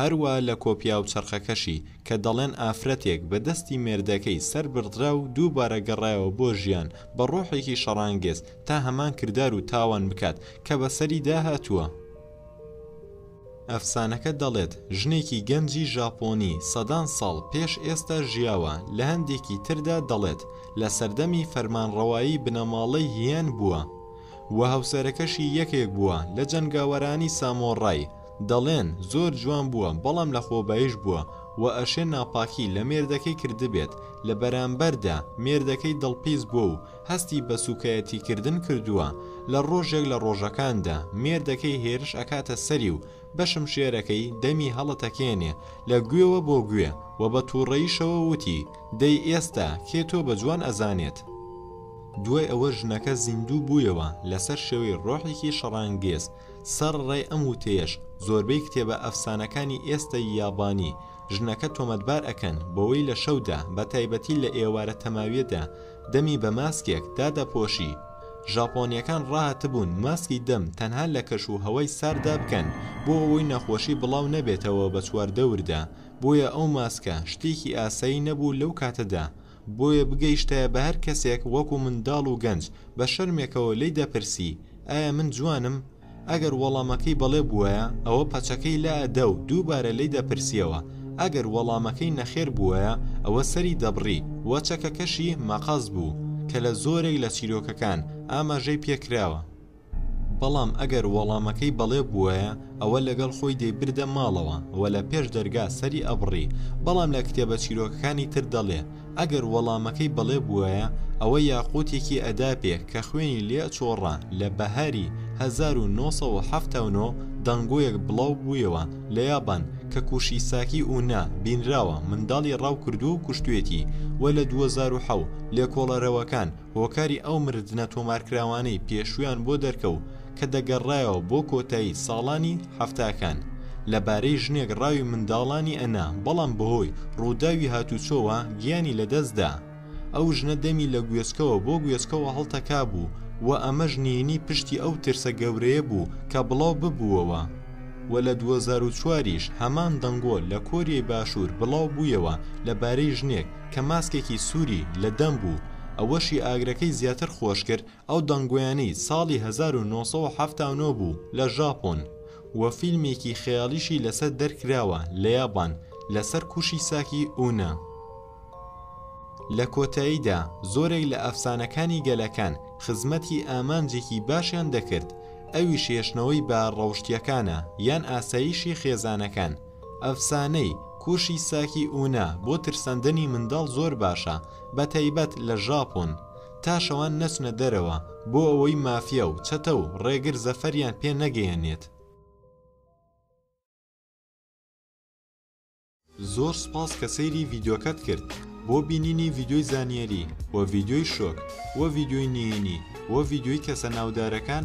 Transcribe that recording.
هەروا لە کۆپیا و چەرخەکەشی کە دەڵێن ئافرەتێک بە دەستی مێردەکەی سەر بڕدرا و دووبارە گەڕایەوە بۆ ژیان بە ڕۆحێکی شەڕانگێز تا هەمان کردار و تاوان بکات کە بە سەریدا هاتووە. ئەفسانەکە دەڵێت ژنێکی گەنجی ژاپۆنی سەدان ساڵ پێش ئێستا ژیاوە، لە هەندێکی تردا دەڵێت لە سەردەمی فەرمانڕەوایی بنەماڵەی هیان بووە و هاوسەرەکەشی یەکێک بووە لە جەنگاوەرانی سامۆڕای، دەڵێن زۆر جوان بووە بەڵام لە خۆبایش بووە وە ئەشێ ناپاکی لە مێردەکەی کردبێت لە بەرامبەردا مێردەکەی دڵپیس بووە و هەستی بە سوکایەتی کردن کردووە لە ڕۆژێک لە ڕۆژەکاندا مێردەکەی هێرش ئەکاتە سەری و بە شمشێرەکەی دەمی هەڵەتەکێنێ لە گوێوە بۆ گوێ وە بە توڕەیشەوە وتی دەی ئێستا کێ تۆ بە جوان ئەزانێت دوای ئەوە ژنەکە زیندوو بوویەوە لەسەر شێوەی ڕۆحێکی شەڕانگێز سەر ڕێ ئەم وتەیەش زۆربەی کتێبە ئەفسانەکانی ئێستەی یابانی ژنەکە تۆمەتبار ئەکەن بەوەی لە شەودا بەتایبەتی لە ئێوارە تەماویەدا دەمی بە ماسکێک دادەپۆشی ژاپۆنیەکان ڕاهاتبوون ماسکی دەم تەنها لە کەش و هەوای سارددا بکەن بۆ ئەوەی نەخۆشی بڵاو نەبێتەوە بە چواردەوردا بۆیە ئەو ماسکە شتێکی ئاسایی نەبوو لەو کاتەدا بۆیە بگەیشتایە بە هەر کەسێک وەکو منداڵ و گەنج، بە شەرمێکەوە لێی دەپرسی، ئایا من جوانم؟ ئەگەر وەڵامەکەی بەڵێ بووایە، ئەوە پەچەکەی لە ئەدا و دووبارە لێی دەپرسییەوە، ئەگەر وەڵامەکەی نەخێر بووایە، ئەوە سەری دەبڕی و چەکەکەشی مەقەست بوو، کە لە زۆرێک لە چیرۆکەکان ئاماژەی پێکراوە. بەڵام ئەگەر وەڵامەکەی بەڵێ بووایە ئەوە لەگەڵ خۆی دەیبردە ماڵەوە و لە پێش دەرگا سەری ئەبڕی، بەڵام لە کتێبە چیرۆکەکانی تر دەڵێ ئەگەر وەڵامەکەی بەڵێ بووایە ئەوە یاقووتێکی ئەدا پێ کە خوێنی لێ ئەچۆڕا لە بەهاری هەزار و نۆ سەد و حەفتا و نۆ دەنگۆیەک بڵاو بوویەوە لە یابان کە کوشیساکی ئونا بینراوە منداڵی ڕاو کردووە و کوشتوێتی و لە دووەزار و حەو لێکۆڵەرەوەکان هۆکاری ئەو مردنە تۆمارکراوانەی پێشوویان بۆ دەرکەوو کە دەگەڕایەوە بۆ کۆتایی ساڵانی حەفتاکان لە بارەی ژنێک ڕاوی منداڵانی ئەنا بەڵام بەهۆی ڕووداوی هاتوچۆوە گیانی لەدەستدا ئەو ژنە دەمی لە گوێچکەوە بۆ گوێچکەوە هەڵتەکابوو و ئەمەش نهێنی پشتی ئەو ترسە گەورەیە بوو کە بڵاو ببووەوە و لە 2004یش هەمان دەنگۆ لە کۆریای باشوور بڵاو بوویەوە لە بارەی ژنێک کە ماسکێکی سووری لە دەم بوو، ئەوەشی ئاگرەکەی زیاتر خۆش کرد ئەو دەنگۆیانەی ساڵی هەزار و نۆ سەد و حەفتا و نۆ بوو لە ژاپۆن، و فیلمێکی خەیاڵیشی لەسەر دەرکراوە لە یابان لەسەر کوشیساکی ئونا. لە کۆتاییدا زۆرێک لە ئەفسانەکانی گەلەکان خزمەتی ئامانجێکی باشیان دەکرد، ئەویش هێشتنەوەی بە ڕەوشتییەکانە یان ئاسایشی خێزانەکان، ئەفسانەی، کوشی ساکی ئونا، بۆ ترساندنی منداڵ زۆر باشە، بەتایبەت لە ژاپۆن، تا شەوان نەچنە دەرەوە، بۆ ئەوەی مافیا و چەتە و ڕێگر زەفەریان پێ نەگەیەنێت. زۆر سوپاس کە سەیری ڤیدیۆکەت کرد بۆ بینینی ڤیدیۆی زانیاری و ڤیدیۆی شۆک و ڤیدیۆی نهێنی و ڤیدیۆی کەسە ناودارەکان،